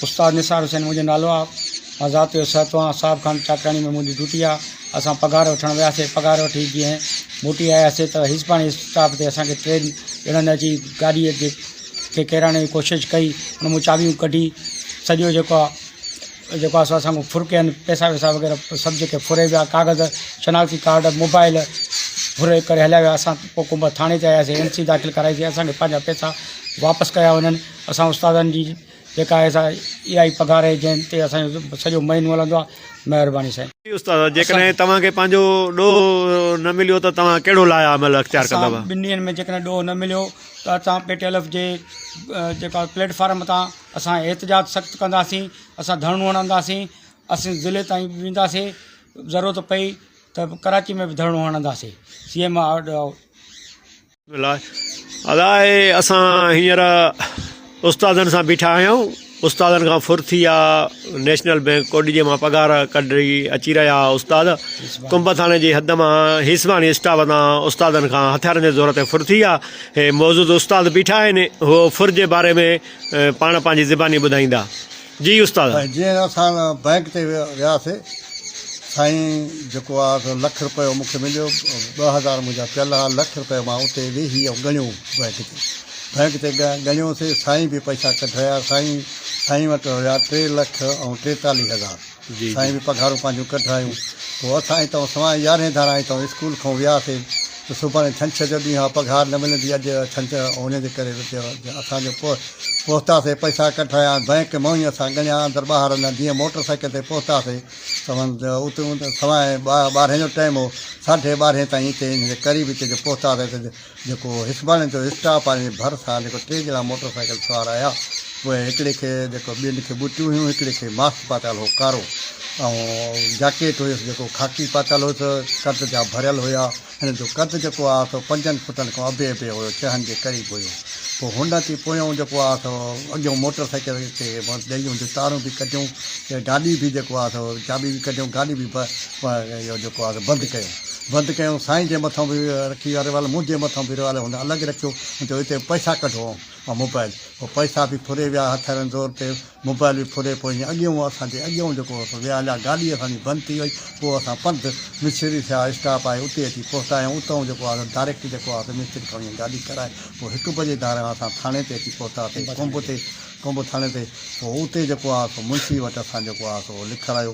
استاد نثار حسين منهنجو نالو آ مان ذات جو سهتو آهيان صاحب خان چاڪياڻي ۾ منهنجي ڊيوٽي آ اسان پگهار وٺڻ وياسي پگهار وٺي جيئن موٽي آياسي ته حسبان اسٽاپ تي اسان کي ٽرين اڙن اچي گاڏي جي کي ڪيرائڻ جي ڪوشش ڪئي ان مون چاٻيون ڪڍي سڄو جيڪو آ جيڪو آ سو اسان کان ڦرڪين پيسا ويسا وغيره سڀ جيڪي ڦري ويا ڪاغذ شناختي ڪارڊ موبائل ڦري ڪري هليا ويا اسان پوء ڪنڀر ٿاڻي تي آياسي اين سي داخل ڪرائيسي اسان کي پنهنجا پيسا واپس ڪيا وڃن اسان استادن جي جيڪا آهي سا اها ئي پگهار آهي جنهن تي اسان جو سڄو مهينو هلندو آهي. مهرباني سائين. جي استاد جيڪڏهن توهان کي پنهنجو ڏوهه نه مليو ته توهان ڪهڙو لايا عمل اختيار اسان ڪندؤ. ٻن ڏينهن ۾ جيڪڏهن ڏوهه نه مليو ته اسان پي ٽي ايل ايف جي جيڪا پليٽ فارم تان اسان احتجاج سخت ڪنداسين اسان ڌرڻو هڻنداسين اسين ضلعي تائين به وينداسين ضرورت پئي ته ڪراچي ۾ به ڌرڻو هڻنداسين سي ايم آرڊر آئوٽ. ادا اسان هينئر استادن سان بيٺا آهيون استادن کان ڦر ٿي آ نيشنل بينڪ ڪوٽ ڏيجي مان پگهار ڪڍي اچي رهيا آ استاد ڪنب ٿاڻي جي حد مان هيسباڻي اسٽاف تان استادن کان هٿيارن جي زور تي ڦر ٿي آ هي موجود استاد بيٺا آهن هو ڦر جي باري ۾ پاڻ پنهنجي زباني ٻڌائيندا جي استاد. جيئن اسان بئنڪ تي وياسي سائين جيڪو آ سو لک رپيو مون کي مليو ٻه هزار منهنجا پيل ها لک رپيو مان اتي ويهي ۽ ڳڻيو بئنڪ تي بئنڪ تي ڳڻيو سي سائين به پئسا ڪڍرايا سائين سائين وٽ هيا ٽي لک ۽ ٽيتاليهه هزار سائين به پگهارون پنهنجون ڪڍرايون پوء اسان هتئون سوائي يارهين ڌاران هتئون اسڪول کان وياسي ته سڀاڻي ڇنڇر جو ڏينهن آهي، پگهار نه ملندي، اڄ ڇنڇر آهي، انهيء جي ڪري رتيء واري اسان جو پهتاسين، پئسا ڪڍرايا، بئنڪ مئوئي اسان ڳڻيا، اندر ٻاهر اڃا جيئن موٽر سائيڪل تي پهتاسين، ته سوائين ٻارهين جو ٽائيم هو، ساڍي ٻارهين تائين هتي انهيء جي قريب هتي جو پهتاسين ته جيڪو هسٻاڻي جو اسٽاپ آهي، انهيء جي ڀرسان جيڪو ٽي ڄڻا موٽر سائيڪل سوار آيا، پوء هڪڙي کي جيڪو ٻين کي ٻوٽيون هيون، هڪڙي کي ماسڪ پاتل هو ڪارو ۽ جاڪيٽ هيس جيڪو خاڪي پاتل هوس، قد جا ڀريل هيا، هن جو قد جيڪو آهي سو پنجن فٽن کان اڀي اڀي هيو، ڇهن جي قريب هيو، پوء هن اچي پويون جيڪو آهي سو اڳيون موٽر سائيڪل کي ڏئي ان جون تارون به ڪڍيون، گاڏي به جيڪو آهي سو چاٻي به ڪڍيون، گاڏي به اهو جيڪو آهي سو بند ڪيون، بند ڪيون، سائين جي مٿان به رکي ريوالور منهنجي مٿان به ريوالور هن الڳ رکيو، هن چيو هتي پئسا ڪڍو، مان موبائل پوء پئسا به ڦري ويا هٿيارن زور تي موبائل به ڦري پوء هيئن اڳيئون اسان جي اڳيئون جيڪو هو سو ويا هليا گاڏي اسان جي بند ٿي وئي پوء اسان پنڌ مڇيري ٿيا اسٽاپ آهي اتي اچي پهتايائون اتئون جيڪو آهي سو ڊائريڪٽ جيڪو آهي سو مستري کان وڃي گاڏي ڪرائي پوء هڪ بجي ڌاران اسان ٿاڻي تي اچي پهتاسين ڪنب تي ڪنب ٿاڻي تي پوء اتي جيڪو آهي سو منشي وٽ اسان جيڪو آهي سو لکرايو